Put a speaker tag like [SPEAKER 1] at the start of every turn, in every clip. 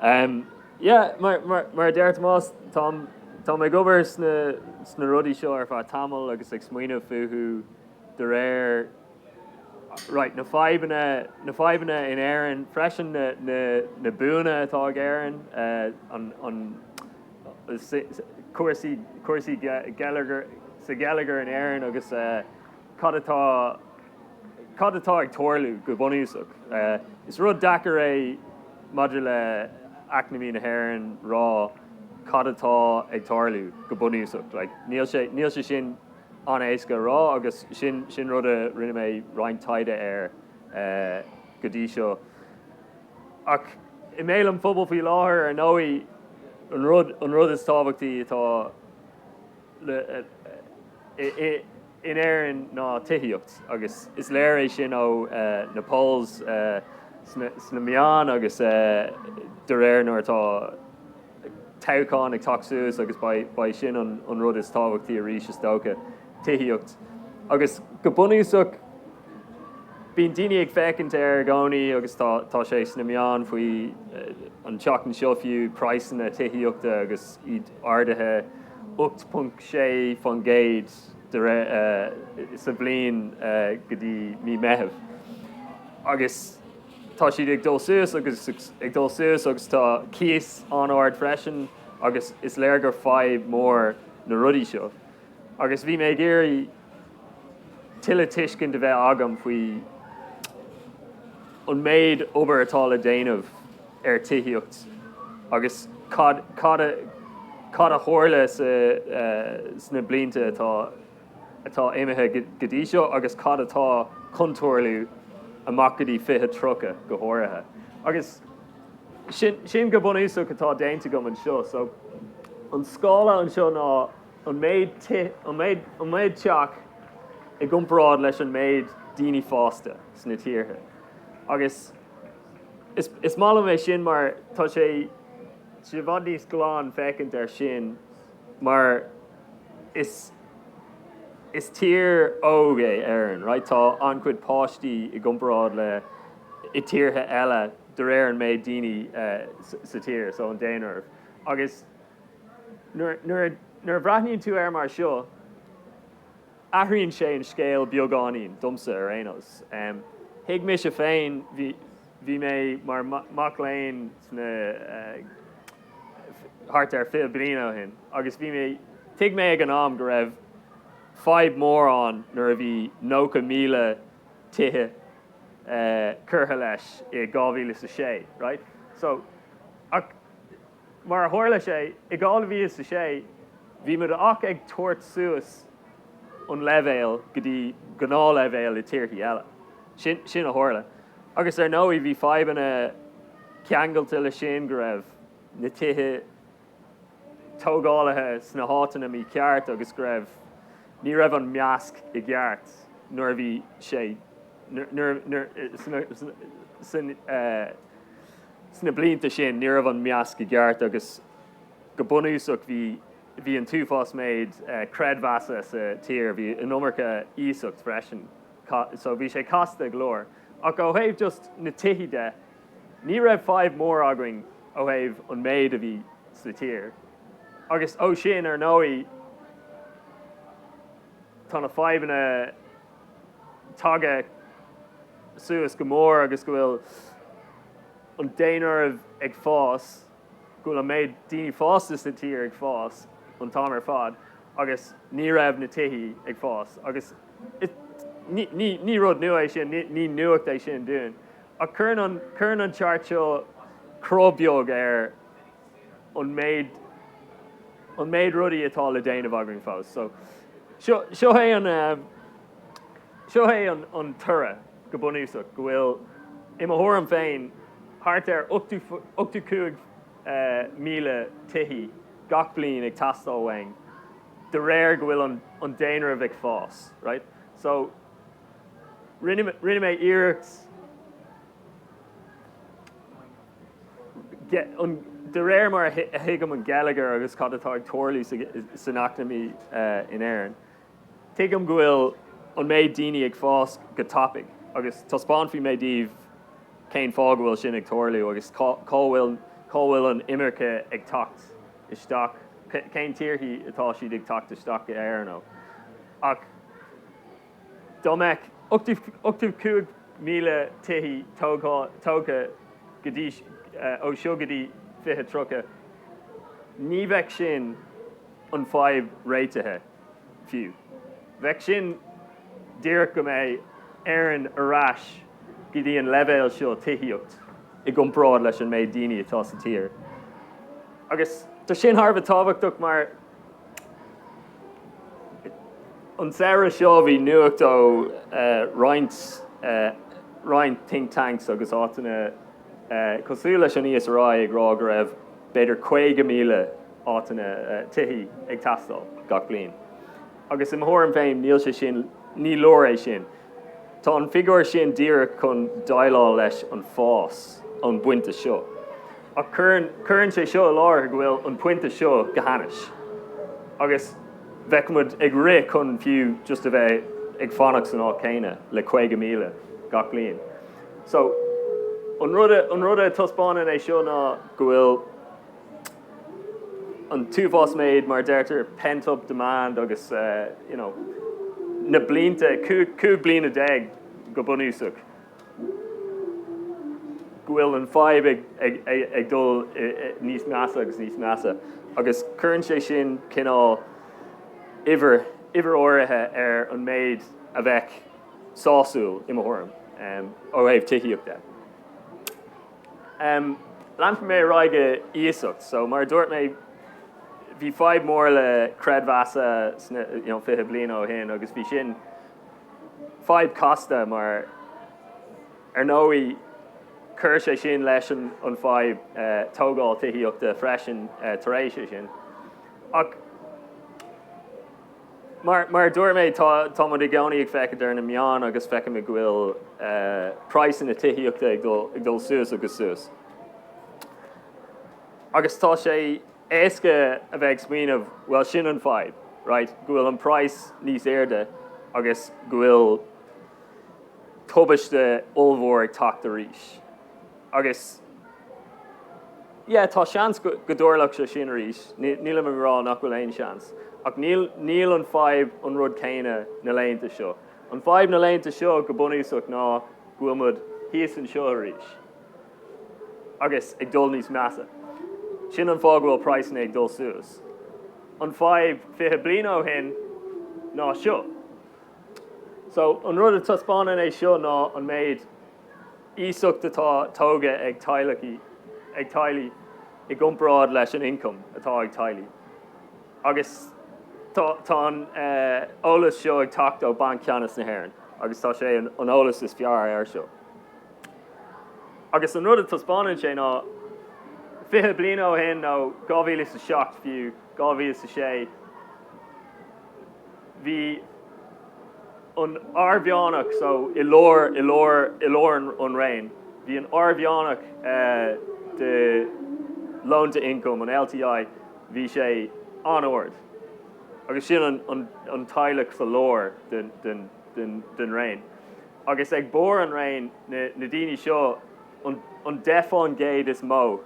[SPEAKER 1] Um, yeah, mar, mar, mar a deir Tomás, táim, táim ag obair sna, sna rudaí seo ar feadh tamaill agus ag smaoineamh fúthu de réir right, na fadhbanna, na fadhbanna in Éirinn freisin, na, na, na buanna atá ag Éirinn, uh, an, an, cúrsaí, cúrsaí geilleagair, sa gheilleagar in Éirinn agus uh, cad atá, Cad atá ag tarlú, go bunúsach? Is rud deacair é maidir le eacnamaí na hÉireann rá cad atá ag tarlú, go bunúsach. Like, níl sé sin an-éasca a rá agus sin sin rud a rinne mé roinnt taighde air go dtí seo. Ach i mbéal an phobail faoi láthair, ar ndóigh, an rud an rud is tábhachtaí atá. in Éirinn ná tithíocht agus is léir é sin ó na polls sna meáin agus de réir nuair atá toghchán ag teacht suas agus beidh sin an rud is tábhachtaí arís is dócha, tithíocht. Agus go bunúsach bíonn daoine ag féachaint air i gcónaí agus tá sé sna meáin fiú an tseachtain seo fiú, praghsanna tithíochta agus iad. ardaithe 8.6% sa bhliain go dtí mí Meitheamh agus tá siad ag dul suas agus ag dul suas agus tá cíos an-ard freisin agus is léir gur fadhb mór na rudaí seo agus bhí mé ag iarraidh tuilleadh tuiscint a bheith agam faoi an méid obair atá le déanamh ar tithíocht agus cad, cad, cad a tharla sna blianta atá, atá imithe go dtí seo agus cad atá chun tarlú amach go dtí 2030 go háirithe. Agus sin, sin go bunúsach atá déanta agam anseo. So, an scála anseo ná. an méid ti, an méid teach i gcomparáid leis an méid daoine fásta sna tíortha. Agus is, is maith liom é sin mar tá sé, tá sé i bhfad níos glan féachaint air sin mar is, is tír óg é Éireann, right, tá an-chuid páistí i gcomparáid le tíortha eile de réir an méid daoine sa tír, so an daonra. Agus. Nuair a bhreathnaíonn tú air mar seo, athraíonn sé an scéal beagáinín, domsa ar aon nós. Thuig mise féin, bhí mé mar mhac léinn sna, thart ar fiche bliain ó shin, agus bhí mé, thuig mé ag an am go raibh fadhb mhór ann nuair a bhí 90,000 tithe curtha leis i 2006, raight? So, ach, Mar a tharla sé, i 2006 bhí muid ach ag tabhairt suas an leibhéal go dtí gnáthleibhéal i tíorthaí eile. Sin a tharla. Agus ar ndóigh bhí fadhbanna ceangailte leis sin, go raibh na tithe tógálaithe sna háiteanna mícheart agus go raibh, ní raibh an measc i gceart nuair a bhí sé, nuair, nuair, san, Sna blianta sin, ní raibh an measc i gceart agus go bunúsach bhí an t-uafás méid creidmheasa sa tír, bhí an iomarca iasacht freisin so bhí sé casta go leor. Ach ó thaobh just na tithí de, ní raibh fadhb mór againn ó thaobh an méid a bhí sa tír. Agus ó sin, ar ndóigh, tá na fadhbanna. tagtha suas go mór agus go bhfuil an daonra ag fás, go bhfuil an méid daoine fásta sa tír ag fás an t-am ar fad agus ní raibh na tithe ag fás agus ní rud nua é sin, ní nuacht é sin dúinn. Ach cuireann an chart seo cruth beag ar. an méid, an méid rudaí atá le déanamh againn fós. So, seo, seo é an, um, seo é an, an toradh go bunúsach, go bhfuil, i mo thuairim féin, thart ar 85,000 uh, tithí gach bliain ag teastáil uainn, de réir go bhfuil an, an daonra ag fás, right? So, rinne, rinne mé iarracht De réir mar a thuigim an geilleagar agus cad atá ag tarlú san eacnamaí in Éirinn, tuigim go bhfuil an méid daoine ag fás go tapaidh agus taispeánfaidh mé daoibh cén fáth go bhfuil sin ag tarlú agus cá bhfuil cá bhfuil an imirce ag teacht isteach, cén tíorthaí atá siad ag teacht isteach go Éirinn ó. Ach. Dá mbeadh 85,000 tithe tógtha go dtí ó seo go dtí 2030, ní bheadh sin an fadhb réitithe fiú. Bheadh sin díreach go mbeidh Éireann ar ais go dtí an leibhéal seo tithíocht i gcomparáid leis an méid daoine atá sa tír. Agus tá sin thar a bheith tábhachtach mar. An samhradh seo bhí nuacht ó roinnt think tanks agus áiteanna cosúil leis an ESRI ag rá go raibh b'fhéidir 50,000 áiteanna, tithí ag teastáil gach bliain. Agus i mo thuairim féin níl sé sin, ní leor é sin. Tá an figiúr sin díreach chun déileáil leis an fás ón pointe seo, ach cuireann sé seo i láthair go bhfuil an pointe seo go hainnis, agus bheadh muid ag rith chun fiú just a bheith ag fanacht san áit chéanna le 50,000 gach bliain. So, an rud a taispeánann é seo ná go bhfuil, an t-uafás méid, mar a deirtear, pent up demand agus na blianta, cúig bliana déag go bunúsach, go bhfuil an fadhb ag dul níos measa agus níos measa agus cuireann sé sin cineál uimhir, uimhir áirithe ar an méid a bheadh sásúil, i mo thuairim, ó thaobh tithíochta. Leanfaidh mé ar aghaidh go iasacht. So, mar a dúirt mé, bhí fadhb mór le creidmheasa fiche bliain ó shin agus bhí sin fadhb casta mar, ar ndóigh, chuir sé sin leis an fadhb tógáil tithíochta freisin tar éis é sin. Ach. Mar a dúirt mé, tá muid i gcónaí ag feiceáil ar na meáin agus feicimid go bhfuil praghsanna tithíochta ag dul suas agus suas. Agus tá sé éasca a bheith ag smaoineamh, bhuel, sin an fadhb, raight, go bhfuil an praghas níos airde agus go bhfuil tubaiste ollmhór ag teacht arís. Agus, yeah, tá seans go dtarlódh sé sin arís, nílim ag rá nach bhfuil aon seans, ach níl an fadhb an rud céanna na laethanta seo. An fadhb na laethanta seo, go bunúsach, ná go bhfuil muid thíos anseo arís, agus ag dul níos measa. Sin an fáth go bhfuil praghsanna ag dul suas. An fadhb fiche bliain ó shin ná seo. So, an rud a taispeánann é seo ná an méid iasacht atá tógtha ag teaghlaigh i gcomparáid leis an ioncam atá ag teaghlaigh agus tá an t-eolas seo ag teacht ó Banc Ceannais na hÉireann agus tá sé an eolas is fearr air seo. Agus an rud a thaispeánann sé ná, fiche bliana ó shin nó dhá mhíle is a seacht fiú, dhá mhíle is a sé, bhí, an airmheán, so i lár, i lár, i lár an raon, bhí an airmheán de loan to income, an LTI, bhí sé an-ard agus sin an, an teaghlach sa lár den, den, den, den raon. Agus ag barr an raon, na, na daoine seo, an, an deich fán gcéad is mó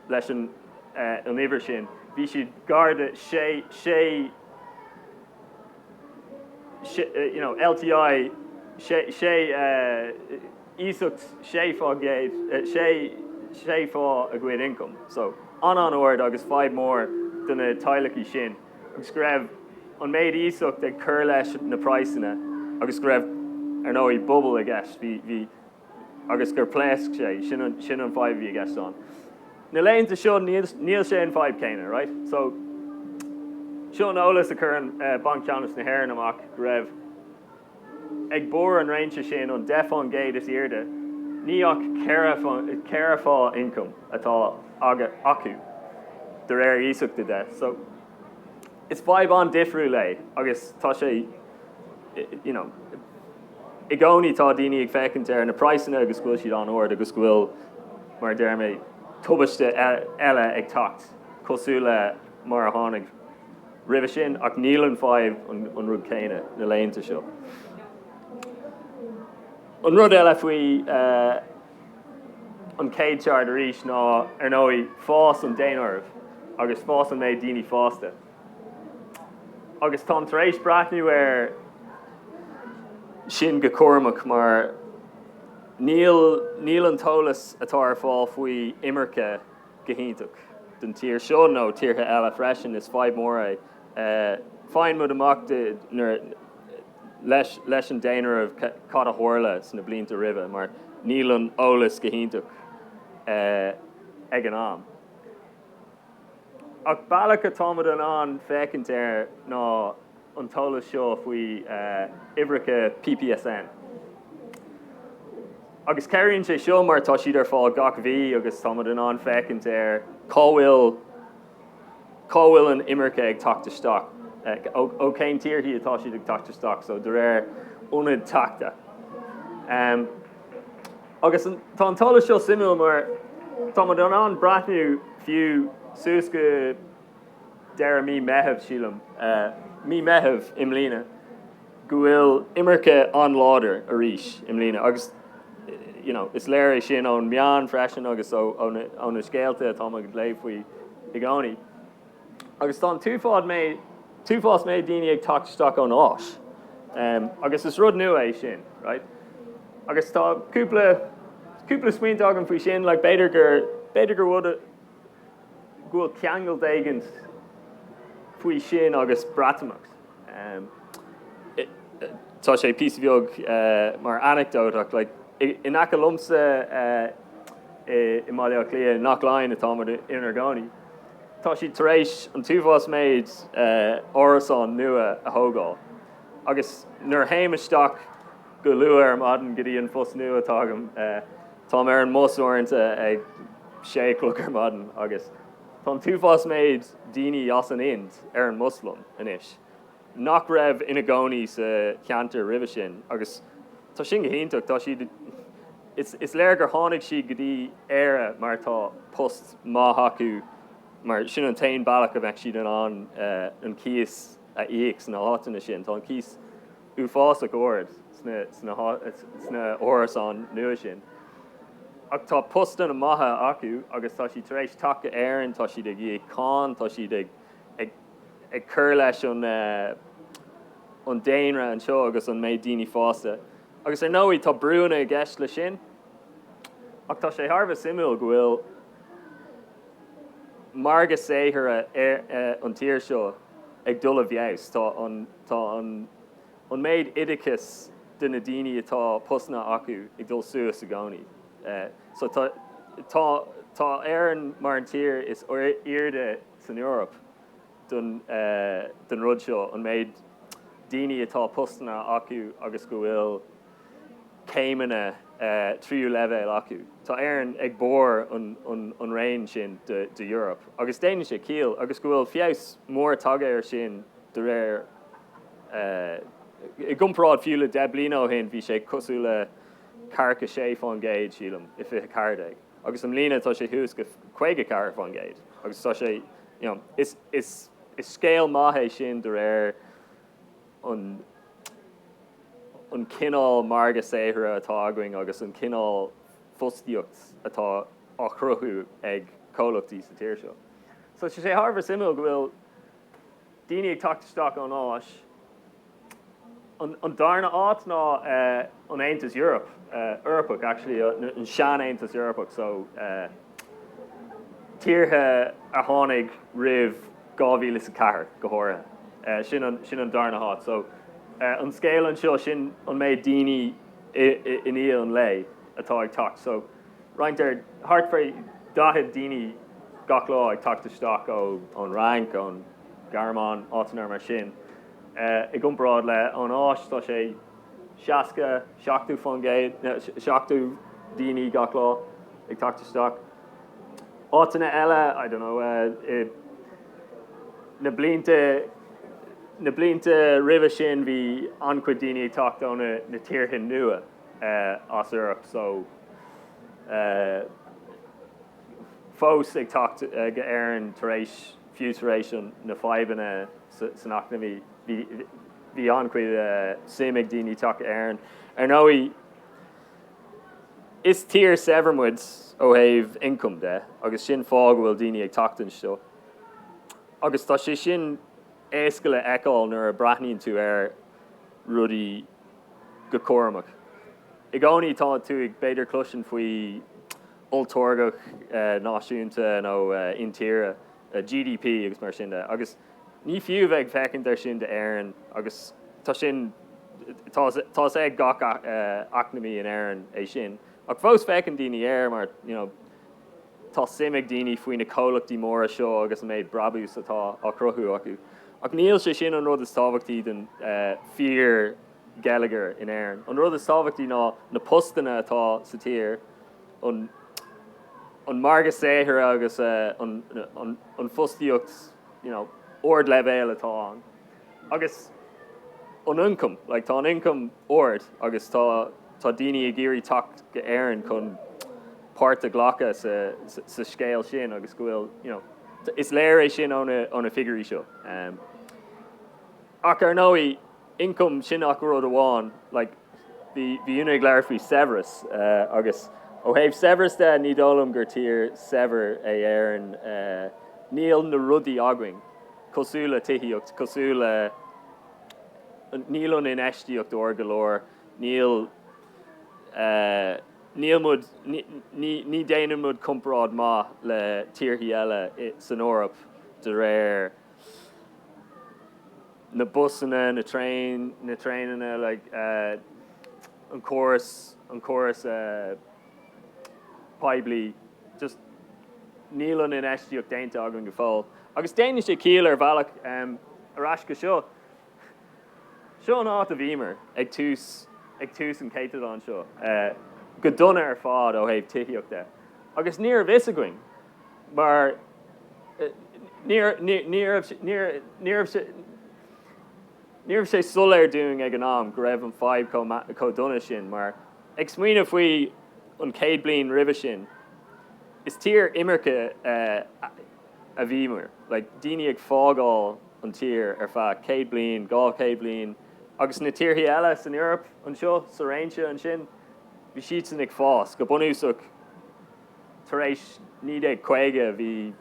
[SPEAKER 1] leis an, an uimhir sin, bhí siad gar de sé, sé, LTI sé iasacht sé fá gcéad, sé sé fá a gcuid ioncam, so an-an-ard agus fadhb mór do na teaghlaigh sin agus go raibh an méid iasacht ag cur leis na praghsanna agus go raibh, ar ndóigh, bubble i gceist. Bhí. agus gur phléasc sé. Sin an fadhb a bhí i gceist ann. Na laethanta seo níl sé an fadhb céanna, raight? So, seo an eolas a chuireann Banc Ceannais na hÉireann amach, go raibh ag barr an réimse sin, an deich fán gcéad is airde, ní ach ceithre fá ioncam atá acu, de réir iasachta de. So. Is fadhb an-difriúil é agus tá sé, you know, i gcónaí tá daoine ag féachaint ar na praghsanna agus go bhfuil siad an-ard agus go bhfuil, mar a déarfá, tubaiste eile ag teacht cosúil le mar a tháinig roimhe sin ach níl an fadhb an rud céanna na laethanta seo. An rud eile faoi. An chéad cheart arís ná, ar ndóigh, fás an daonáirimh agus fás an méid daoine fásta. Agus táim tar éis breathnú air sin go cúramach mar níl an t-eolas atá ar fáil faoi imirce go hiontach don tír seo, nó tíortha eile freisin, is fadhb mhór é. Faigheann muid amach nuair. leis leis an daonáireamh cad a tharla sna blianta roimhe mar níl an eolas go hiontach ag an am. Ach bealach atáimid in ann féachaint air ná an t-eolas seo faoi uimhreacha PPSN. Agus cabhraíonn sé seo mar tá siad ar fáil gach mí agus táimid in ann féachaint ar cá bhfuil Cá bhfuil an imirce ag teacht isteach? Ó cén tíorthaí atá siad ag teacht isteach? So, de réir ionad teacht. Agus tá an t-eolas seo suimiúil mar tá muid in ann breathnú fiú suas go deireadh mí Meitheamh, sílim, mí Meitheamh i mbliana. go bhfuil imirce an-láidir arís i mbliana agus you know is léir é sin ón meán freisin agus ó na scéalta atá muid ag léamh faoi i gcónaí. Agus tá an t-uafás méid daoine ag teacht isteach ón Áis agus is rud nua é sin, right? Agus tá cúpla smaointe agam faoi sin, like b'fhéidir gur b'fhéidir gur rud go bhfuil ceangal éigint faoi sin agus Breatimeacht. Tá sé píosa bheag mar anecdótach, like, in aice liomsa i mBaile Átha Cliath, Inse Chór atá muid inar gcónaí, tá siad tar éis an t-uafás méid árasán nua a thógáil agus nuair a théim isteach Go luath ar maidin go dtí an phost nua atá agam. Táim ar an mbus uaireanta ag sé a chlog ar maidin agus tá an t-uafás méid daoine as an Ind ar an mbus liom anois, nach raibh ina gcónaí sa cheantar roimhe sin agus tá sin go hiontach. Tá siad, is léir gur tháinig siad go dtí Éire mar tá post maith acu mar sin an t-aon bealach a bheadh siad in ann an cíos a íoc sna háiteanna sin. Tá an cíos. uafásach ard sna hárasáin nua sin. Ach tá postanna maithe acu agus tá siad tar éis teacht go h-Éirinn, tá siad ag íoc cáin, tá siad ag cur leis an daonra anseo agus an méid daoine fásta. Agus ar ndóigh tá brúanna i gceist le sin. Ach tá sé thar a bheith suimiúil go bhfuil margadh saothair an tír seo ag dul i bhfeabhas. Tá an. Tá an an méid oideachas de na daoine atá postanna acu ag dul suas i gcónaí. So tá tá tá Éireann mar an tír is airde san Eoraip den den rud seo, an méid daoine atá postanna acu agus go bhfuil céimeanna tríú leibhéal acu. Tá Éireann ag barr an an an raon sin de de Eoraip agus déanann sé ciall agus go bhfuil feabhas mór tagtha air sin De réir I gcomparáid fiú le deich bliana ó shin, bhí sé cosúil le circa 6% sílim, i 2014, agus i mbliana tá sé thuas go 54%, agus tá sé, you know, is, is, is scéal maith é sin de réir an, an cineál margadh saothair atá againn agus an cineál fostaíocht atá á chruthú ag comhlachtaí sa tír seo. So tá sé thar a bheith suimiúil go bhfuil Daoine ag teacht isteach ón Áis. An darna áit ná an Aontas Eorpach, actually, an sean-Aontas Eorpach, so tíortha a tháinig roimh dhá mhíle is a ceathair, go háirithe. Sin an darna áit. So, an scéal anseo, sin an méid daoine i ndiaidh an lae atá ag teacht. So. Roinnt thart fá 40 duine gach lá ag teacht isteach ón Fhrainc, ón Ghearmáin, áiteanna mar sin. I gcomparáid le an Áis, tá sé 60, 70 fán gcéad, 70 daoine gach lá ag teacht isteach. Áiteanna eile, I don't know, i, na blianta, na blianta roimhe sin bhí an-chuid daoine ag teacht ó na, na tíortha nua. as Eoraip so fós ag teacht go h-Éirinn tar éis fiú tar éis na fadhbanna san eacnamaí. Bhí an-chuid suim ag daoine teacht go h-Éirinn. Ar ndóigh, is tír saibhir muid ó thaobh ioncam de agus sin fáth go bhfuil daoine ag teacht anseo. Agus tá sé sin éasca le fheiceáil nuair a breathnaíonn tú ar rudaí go cúramach. I gcónaí tá tú ag, b'fhéidir, cloisint faoi olltáirgeadh náisiúnta nó intíre, GDP agus mar sin de, agus ní fiú a bheith ag féachaint air sin d'Éirinn agus tá sin, tá a fhios ag gach eacnamaí in Éirinn é sin ach fós féachann daoine air mar, you know, Tá suim ag daoine faoi na comhlachtaí móra seo agus an méid brabús atá á chruthú acu, ach níl sé sin an rud is tábhachtaí den fíor-gheilleagar in Éirinn. An rud is tábhachtaí ná na postanna atá sa tír, an margadh saothair agus an fostaíocht ard-leibhéil atá ann. Agus an ioncam, like, tá an ioncam ard agus tá, tá daoine ag iarraidh teacht go hÉirinn chun páirt a ghlacadh sa, sa scéal sin agus go bhfuil, you know, is léir é sin ó na, ó na figiúirí seo. Um, ach ar ndóigh, ioncam sin ach rud amháin, like, bhí, bhí Úna ag labhairt faoi saibhreas uh, agus ó thaobh saibhreas de, ní dóigh liom gur tír saibhir í Éirinn, uh, níl na rudaí againn. cosúil le tithíocht, cosúil le. níl an infheistíocht ard go leor, níl. níl muid. ní déanann muid comparáid maith le tíortha eile san Eoraip de réir. na busanna, na traein, na traenanna, like, an córas, an córas. poiblí, just níl an infheistíocht déanta againn go fóill. Agus déanann sé ciall ar bhealach. Ar ais go seo. Seo an áit a bhíomar ag tús ag tús an céatadán seo, go dona ar fad ó thaobh tithíochta. Agus ní raibh fhios againn mar ní raibh sé soiléir dúinn ag an am go raibh an fadhb chomh dona sin mar, Ag smaoineamh faoi an chéad bliain roimhe sin, is tír imirce a bhíomar, like, daoine ag fágáil an tír ar feadh céad bliain, dhá chéad bliain, agus na tíorthaí eile san Eoraip anseo, sa réimse ansin, bhí siadsan ag fás, go bunúsach, Tar éis 1950 bhí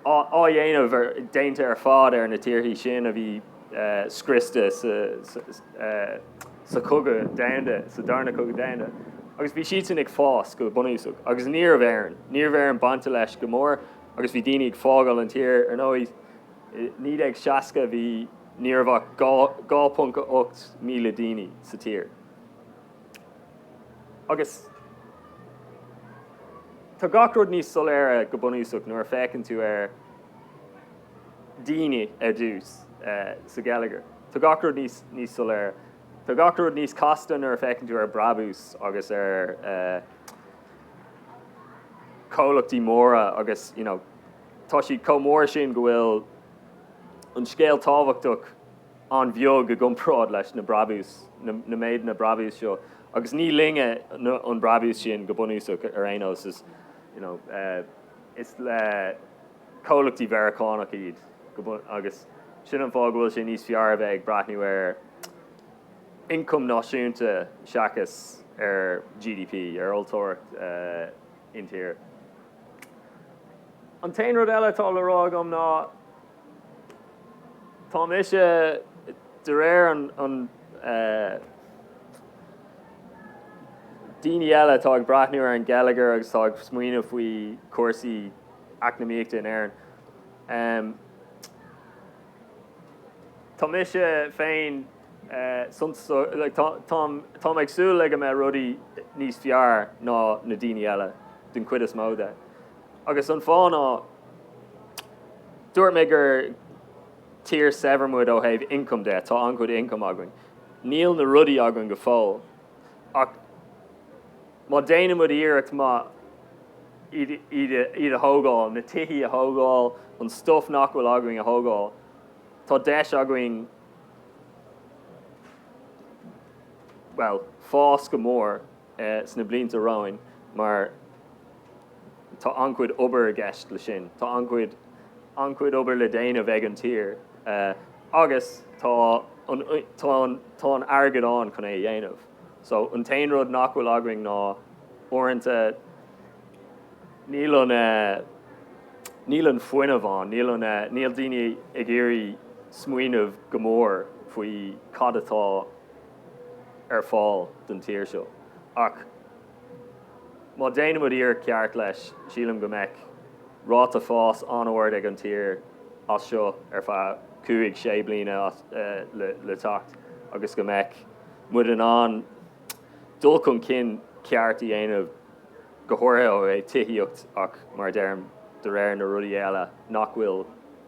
[SPEAKER 1] athdhéanamh déanta ar fad ar na tíorthaí sin a bhí scriosta sa Chogadh Domhanda, sa darna Cogadh Domhanda, agus bhí siadsan ag fás go bunúsach. Agus ní raibh Éirinn. Ní raibh Éirinn bainte leis go mór agus bhí daoine ag fágáil an tír. Ar ndóigh, i 1960 bhí ní raibh ach 2.8 míle duine sa tír. Agus tá gach rud níos soiléire go bunúsach nuair a féachann tú ar daoine ar dtús sa gheilleagar. Tá gach rud níos soiléire. Tá gach rud níos casta nuair a féachann tú ar brabús agus ar comhlachtaí móra agus, you know, tá siad chomh mór sin go bhfuil an scéal tábhachtach. an-bheag i gcomparáid leis na brabús, na méideanna brabús seo, agus ní linne an brabús sin go bunúsach ar aon nós, is you know is le comhlachtaí Mheiriceánach iad go bun agus sin an fáth go bhfuil sé níos fearr a bheith ag breathnú ar ioncam náisiúnta seachas ar GDP, ar olltáirgeacht intíre. An t-aon rud eile atá le rá agam ná. Tá mise, de réir an daoine eile atá ag breathnú ar an gheilleagar agus atá ag smaoineamh faoi chúrsaí eacnamaíochta in Éirinn, tá mise féin tá mé ag súil le go mbeidh rudaí níos fearr ná na daoine eile, den chuid is mó de. Agus an fáth ná Dúirt mé gur tír saibhir muid ó thaobh income de, tá an-chuid income againn. Níl na rudaí againn go fóill, ach má déanann muid iarracht maith iad a thógáil, na tithe a thógáil, an stuif nach bhfuil againn a thógáil, tá deis againn fás go mór. sna blianta romhainn mar tá an-chuid obair i gceist leis sin. Tá an-chuid an-chuid obair le déanamh ag an tír agus tá an tá an tá an airgead ann chun é a dhéanamh. So an t-aon rud nach bhfuil againn ná uaireanta níl an níl an fuineamh ann, níl an níl daoine ag iarraidh smaoineamh go mór faoi cad atá ar fáil don tír seo. Ach má déanann muid iarracht ceart leis, sílim go mbeidh ráta fáis an-ard ag an tír as seo ar feadh cúig, sé bliana le teacht agus go mbeidh muid in ann dul chun cinn ceart a dhéanamh, go háirithe ó thaobh tithíocht ach, mar a deirim, de réir na rudaí eile nach bhfuil.